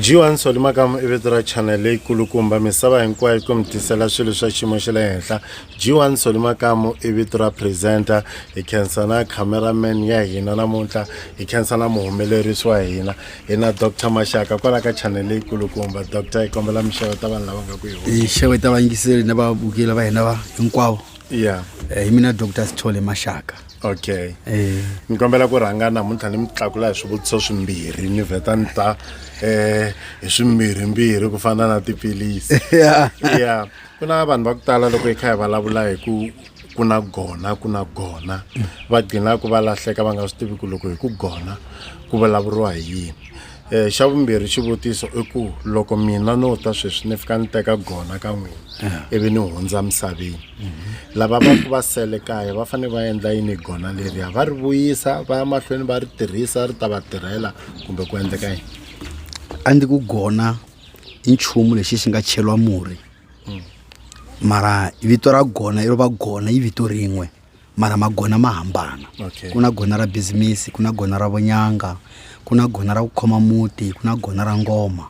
g1 soli makamu i vito ra chanel leyi kulukumba misava hinkwayo ku mi tisela swilo swa xiyimo xa le henhla g1 soli makamu i vito ra presenter hi khensa na cameraman ya hina namuntlha hi khensa na muhumelerisi wa hina hi na dr maxaka kwala ka chanel leyikulukumba dr hi kombela mixevo ta vanhu lava nga ku hi xevo ta vayingiseli na vavukeli va hina va hinkwavo ya eh, hi mina dr sithole maxaka okay eh. ni kombela ku rhanga namuntlha ni mi tlakula hi swivutiso swimbirhi ni vheta ni ta um hi swimbirhimbirhi ku fana na tiphilisi ya ku na vanhu va ku tala loko hi kha hi vulavula hi ku ku na gona ku na gona va gcinaku va lahleka va nga swi tivi ku loko hi ku gona ku vulavuriwa hi yini um xa vumbirhi xivutiso i ku loko mina no ta sweswi ni fika ni teka gona ka n'wina ivi ni hundza misaveni lava va ku va sele kaya va fanele va endla yini gona leriya va ri vuyisa va ya mahlweni va ri tirhisa ri ta va tirhela kumbe ku endleka yini a ndzi ku gona i nchumu lexi xi nga cheriwa murhi mara vito ra gona iro va gona i vito rin'we mara magona ma hambana Okay. ku na gona ra bizimisi ku na gona ra vunyanga ku na gona ra ku khoma muti ku na gona ra ngoma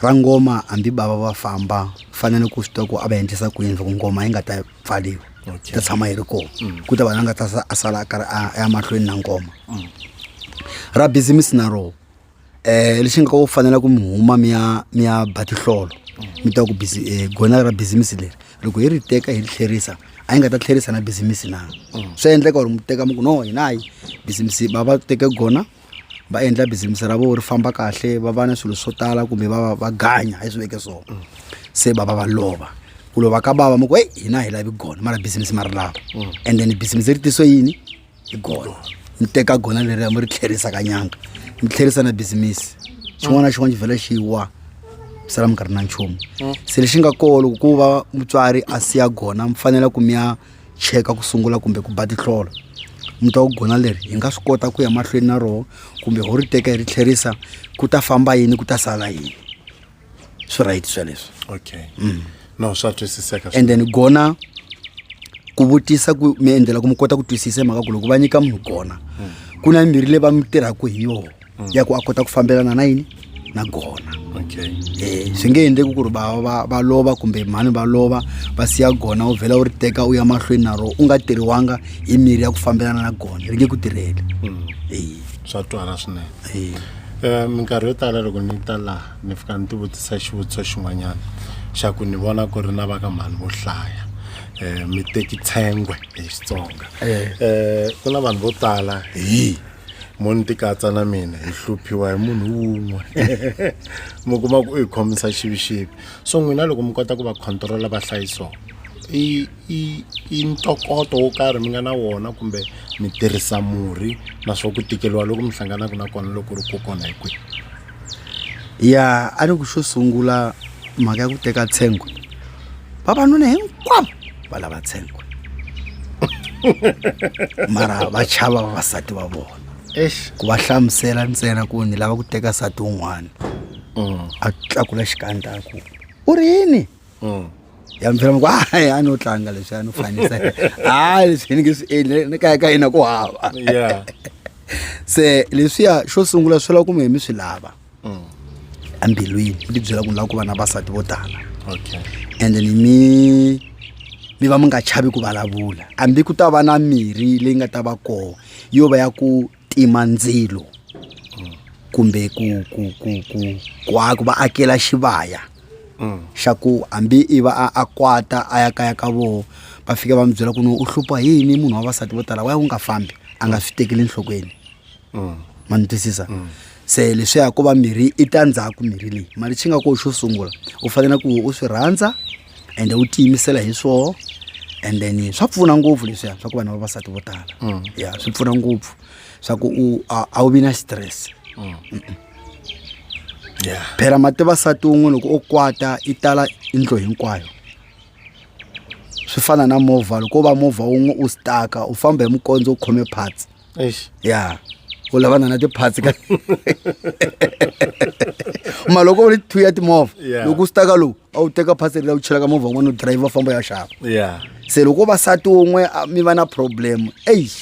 ra ngoma hambi bava va famba fanele ku swi tiva ku a va endlisa ku yini loko ngoma yi nga ta pfaliwa Okay. ta tshama yi ri kona ku ta vana nga ta sa- a sala a karhi a a ya mahlweni na ngoma ra bizimisi na roho um lexi nga ko fanela ku mi huma mi ya mi ya ba tihlolo mi ta ku bizi um gona ra bizimisi leri loko hi ri teka hi ri tlherisa a yi nga ta tlherisa na bizimisi na swa endleka or mi teka mi ku no hina hayi bizimisi va va teke gona va endla bizimisi ra vona ri famba kahle va va na swilo swo tala kumbe va va va ganya hi swi veke so se bava va lova ku lova ka bava mi ku heyi hina hi lavi gona mara bizimisi ma ri lava and then bizimisi ri tiso yini hi gona mi teka gona leriya mi ri tlherisa ka nyanga mi tlherisa na bizimisi xin'wana na xin'wana xi vhela xi wa mi sala mi nga ri na nchumu se lexi nga koho loko ku va mutswari a siya gona mi fanele ku mi ya cheka ku sungula kumbe ku ba tihlolo mi twa ku gona leri hi nga swi kota ku ya mahlweni na roho kumbe ho ri teka hi ri tlherisa ku ta famba yini ku ta sala yini swi right sweleswo okay mm. no swa twisiseka and then gona ku vutisa ku mi endlela ku mi kota ku twisisa mhaka ku loko va nyika munhu gona mm. ku na mimirhi leyi va mi tirhaka hi yona mm. ya ku a kota ku fambelana na yini na gona okay. eh, swi nge endleki ku ri va, va, va lova kumbe mhani va lova va siya gona u vhela u ri teka u ya mahlweni na rona u nga tirhiwanga hi mirhi ya ku fambelana na gona ri nge ku tirheli mm. eh. swa twala swinene um minkarhi yo tala loko ni ta laha ni fika ni tivutisa xivutiso xin'wanyana xa ku ni vona ku ri na va ka mhani vo hlaya um mi teki tshengwe hi xitsonga um ku na vanhu vo tala hi mo ni tikatsa na mina hi hluphiwa hi munhu wun'we mi kuma ku u hi khomisa xivixivi so n'wina loko mi kota ku va control-a va hlayisoko i i i ntokoto wo karhi mi nga na wona kumbe mi tirhisa murhi na swa ku tikeriwa loko mi hlanganaka na kona loko ri kokwana hi kwihi ya a ni ku xo sungula mhaka ya ku teka tshengwe vavanuna hinkwavo va lava tshengwe mara va chava vavasati va vona ku va hlamusela ntsena ku ni lava ku teka nsati wun'wana mm. a tlakula xikandlaku u ri yini mm. ya mi byela mi ku hayi a no tlanga leswi a no fanisa hayi leswi ni nge swi endli ni kaya ka yena ku hava se leswiya xo sungula swi lava ku mi hi mi swi lava mm. embilwini mi ti byela ku ni lava ku va na vasati vo tala and then mi mi va mi nga chavi ku vulavula hambi ku ta va na mirhi leyi nga ta va koho yo va ya ku tima ndzilo kumbe ku ku ku ku ku a- ku va akela xivaya xa ku hambi i va a a kwata a ya kaya ka voho va fika va mi byela ku no u hlupha hi yini munhu wa vasati vo tala wa ya u nga fambi a nga swi tekeli enhlokweni ma ni twisisa se leswiya ko va mirhi i ta ndzhaku mirhi leyi mali xi nga ko xo sungula u fanele ku u swi rhandza ende u tiyimisela hi swoho and then swa pfuna ngopfu leswiya swa ku vanhu vavasati vo tala mm. ya swi pfuna ngopfu swa ku u a wu vi na xitirese mm. phela mati vasati un'we loko o kwata i tala indlo hinkwayo swi fana na movha loko u va movha wun'we u staka u famba hi mukondzo u khome parts eish ya u lavana na ti-parts ka ma loko u ri two ya timovha Yeah. loko u staka lowu a wu teka parts leri la u chelaka movha un'wana u driver famba ya xava ya se loko vasati un'we a- mi va na problem eish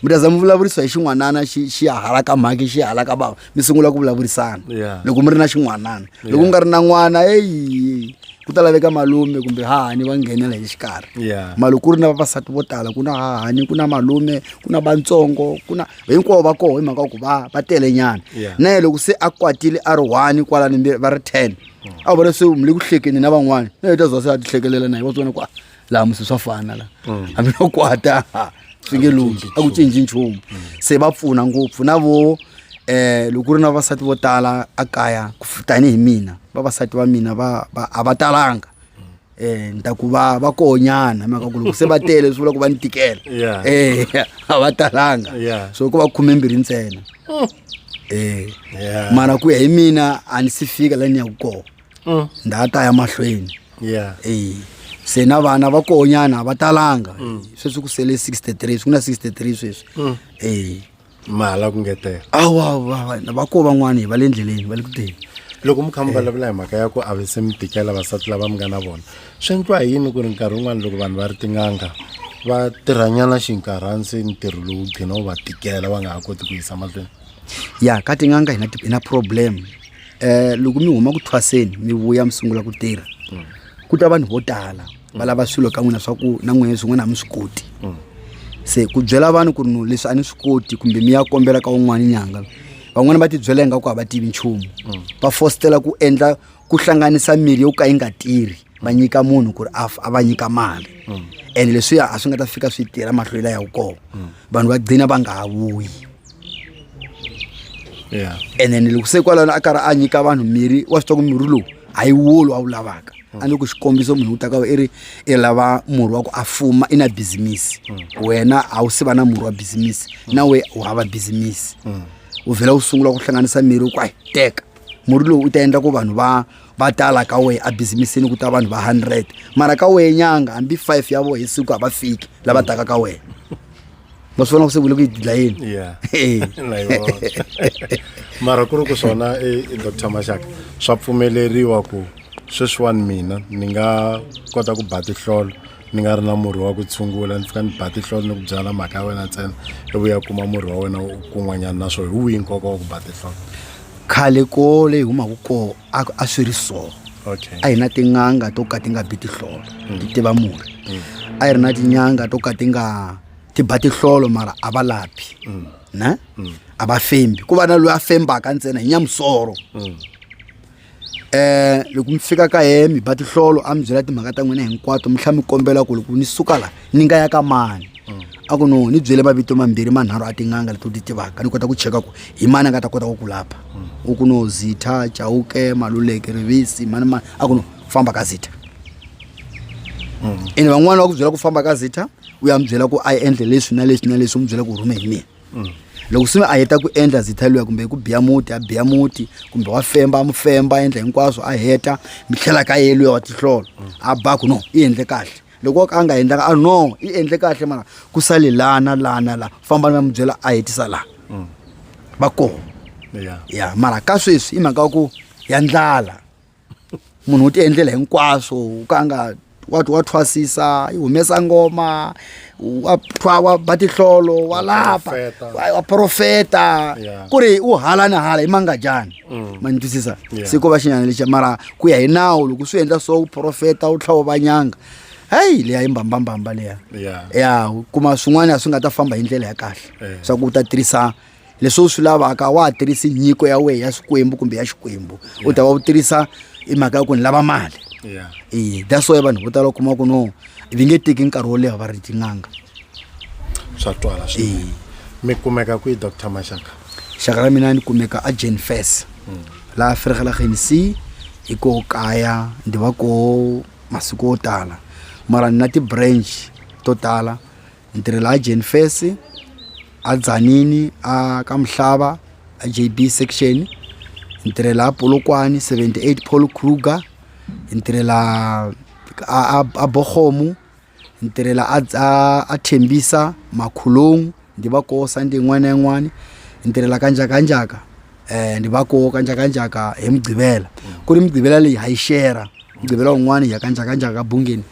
mi ta za mi vulavurisa hi xin'wanana xi xi ya hala ka mhaki xi ya hala ka bava mi sungula ku vulavurisana Yeah. loko mi ri na xin'wanana loko mi nga ri na n'wana eyi ku ta laveka malume kumbe hahani va nghenela hi xikarhi Yeah. mali ku ri na vavasati vo tala ku na hahani ku na malume ku na vantsongo ku na hinkwavo va koho hi mhaka ya ku va va tele nyana Yeah. na yena loko se a kwatile a ri one kwala ni mbirhi va ri ten a vona se le ku hlekeni na van'wana na yena ta zwa se a tihlekelela na yena wa swi vona ku a laha musi swa fana la mm. hambi no kwata swi nge lumi a ku cinci nchumu se va pfuna ngopfu na vo eh loko ku ri na vavasati vo tala a kaya ku tanihi mina vavasati va mina va a va talanga eh ni ta ku va va konyana mhaka ku loko se va tele swi vula ku va ni tikela eh a va talanga so ku va khume mbirhi ntsena mm. eh mara ku ya hi mina a ni si fika la ni ya ku kona mm. nda ta ya mahlweni yeah. hey. Eh, se na vana va konyana va talanga mm. sweswi ku sele 63 ku na 63 sweswi mm. hey. Eh. mala ku ngetela awa va ko van'wana hi va le ndleleni va le ku teni loko mi kha mi eh. vulavula hi mhaka ya ku a vise mi tikela vasati lava mi nga na vona swi endliwa hi yini ku ri nkarhi wun'wana loko vanhu va ri tin'anga va tirhanyana xinkarhani se ntirho lowu gcina wu va tikela va nga ha koti ku yisa mahlweni ya ka tin'anga hi na problem eh loko mi huma ku thwaseni mi vuya mi sungula ku tirha ku ta vanhu vo tala va lava swilo ka n'wina swa ku na n'wina swin'wana a mi swi koti se ku byela vanhu ku ri no leswi a ni swi koti kumbe mi ya kombela ka un'wana nyanga van'wani va tibyela ingaku a va tivi nchumu va fositela ku endla ku hlanganisa mirhi yo ka yi nga tirhi va nyika munhu ku ri a f- a va nyika mali ene leswiya a swi nga ta fika swi tirha mahlwela ya wu kona vanhu va gcina va nga ha vuyi yeah. and then loko se kwalano a karhi a nyika vanhu mirhi wa swi twa ku mirhi lowu a yi wolo a wu lavaka a ni ku xikombiso munhu u ta ka i ri i lava murhi wa ku a fuma i na bizimisi wena a wu se va na murhi wa bizimisi na we u hava bizimisi u vhela u sungula ku hlanganisa mirhi ku a yi teka murhi lowu u ta endla ku vanhu va va tala ka wehe ebizimisi ku ta vanhu va hundred mara ka wehe nyanga hambi five ya voho hi siku a va fiki lava taka ka wena ma swi vona ku se vule ku yi dlayeni mara ku ri ku swona e, e dr maxaka swa pfumeleriwa ku sweswiwani mina ni nga kota ku ba tihlolo ni nga ri na murhi wa ku tshungula ni fika ni ba tihlolo ni ku byala mhaka ya wena ntsena i vuya kuma murhi wa wena kun'wanyana naswona hi wihi nkoka wa ku ba tihlolo khale ko leyi humaka koo a swi ri so okay. a hi na tin'anga to ka ti nga bi tihlolo mm. ti tiva murhi mm. a hi ri na tinyanga to ka ti nga ti ba tihlolo mara a va lapi mm. ne mm. a va fembi ku va na loyi a fembaka ntsena hi nyamusoro mm. loko mi fika ka yehe mi ba tihlolo a mi byela timhaka ta n'wina hinkwato mi tlhela mi kombela ku loko ni suka la ni nga ya ka mani mm. a ku no ni byele mavito mambirhi manharhu a tin'anga leti u ti tivaka ni kota ku cheka ku hi mani a nga ta kota ku ku lapha mm. u ku no zitha chauke maluleke rivisi mani mani a ku no famba ka zitha mm. ene van'wana va ku byela ku famba ka zitha u ya mi byela ku a yi endle leswi na leswi na leswi u mi byela ku rhume hi mina mm. loko swi nga a heta ku endla zitha luya kumbe ku biya muti a biya muti kumbe wa femba a mu femba a endla hinkwaswo a heta mi tlhela ka ye luya wa tihlolo a ba ku no i endle kahle loko a nga endlanga a no i endle kahle mara ku sale lana lana la famba na mi byela a hetisa laha mm. va kona ya mara ka sweswi i mhaka ya ku ya ndlala munhu u ti endlela hinkwaswo u ka a nga wa wa thwasisa yi humesa ngoma wa thwa wa ba tihlolo wa lapa wa profeta ku ri u hala ni hala i mangadyani mm. ma ni twisisa se ko va xinyana lexa mara ku ya hi nawu loko swi endla so u profeta u tlhava va nyanga heyi leya yi mbambambamba leya ya kuma swin'wana swi nga ta famba hi ndlela ya kahle eh. swa ku u ta tirhisa leswi u swi lavaka a wa ha tirhisi nyiko ya wena ya swikwembu kumbe ya xikwembu u ta va u tirhisa i mhaka ya ku ni lava mali yeah. e that's why vanhu vo tala u kuma ku no vi nge teki nkarhi wo leha va ri tin'anga swa twala swi mi kumeka kwihi dr maxaka xaka ra mina ni kumeka a jane fes mm. laha fergela genc hi ko kaya ndi va ko masiku yo tala mara ni na ti-branch to tala ni tirhela a Jane Face a Tzaneen a ka Mhlava a JB section ni tirhela a Polokwane 78 Paul Kruger ni tirhela a a, a Bogomo ni tirhela a a, a Thembisa Makhulong ndi va ko Sunday yin'wana na yin'wana ni tirhela ka njhaka njhaka eh ni va ko ka njhaka njhaka hi mugqivela ku ri mugqivela leyi ha yi share mugqivela wun'wana hi ya ka njhaka njhaka ka bungeni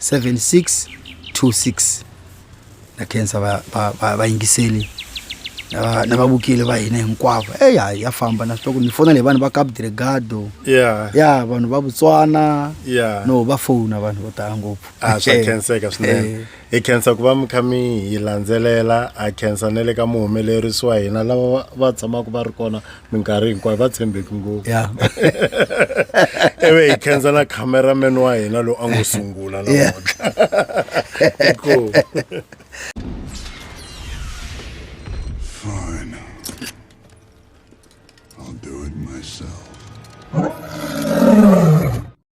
7626 na khensa va- va- va- vayingiseli na va- na vavukeli va hina hinkwavo eyi hayi ya famba na switoko ni fona leyi vanhu va cap dregado ya ya vanhu va botswana ya no va fona vanhu vo tala ngopfu a swa Eh, khenseka eh. swinene hi khensa ku va mi kha mi hi landzelela a khensa na le ka muhumelerisi wa hina lava va- va tshamaka va ri kona minkarhi hinkwayo va tshembeki ngopfu ya ivi hi khensa na cameraman wa hina lowu a ngo sungula Yeah. namuntlha Cool. Fine. I'll do it myself.